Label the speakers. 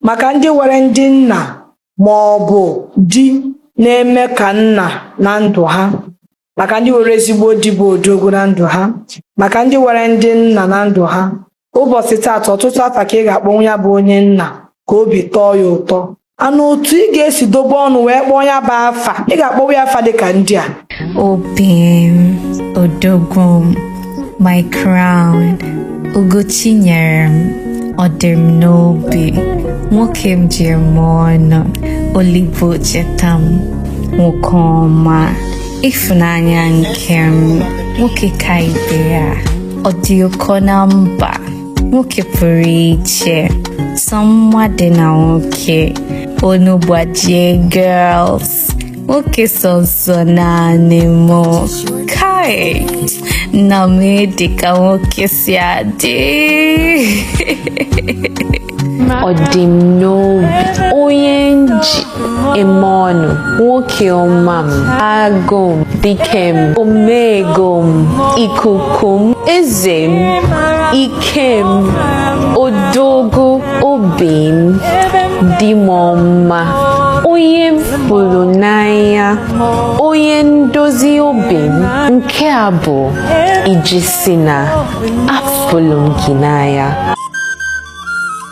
Speaker 1: Maka ndị nwere ndị nna ma ọ bụ di na-eme ka nna na ndụ ha, maka ndị nwere ezigbo di bụ odogwu na ndụ ha, maka ndị nwere ndị nna na ndụ ha, ụbọchị taata ọtụtụ afa ka ị ga-akpọnwu ya bụ onye nna ka obi tọọ ya ụtọ ana otu ị ga-esi dobe ọnụ wee kpọọ ya bụ afa ị ga-akpọwa ya afa dịka ndị a
Speaker 2: obi m odogwu m my crown ugo chi nyere m ọ dị m n'obi nwoke m ji eme ọnụ o libe o cheta m nwoke ọma ịfụnanya nke m nwoke ka ibe ya ọ dị ụkọ na mba nwoke pụrụ iche sọ mma dị na nwoke onu gbajie girls nwoke sọsọ naanị mụ kai nna m dị ka nwoke si
Speaker 3: adị ọ dị m n'obi onye m ji Eme ọnụ nwoke ọma m agụ m dike m omego m ikuku m eze m ike m odogwu obi m di m ọma onye m fụlụ n'anya onye ndozi obi m nke a bụ iji sị na afụlụ m gị n'anya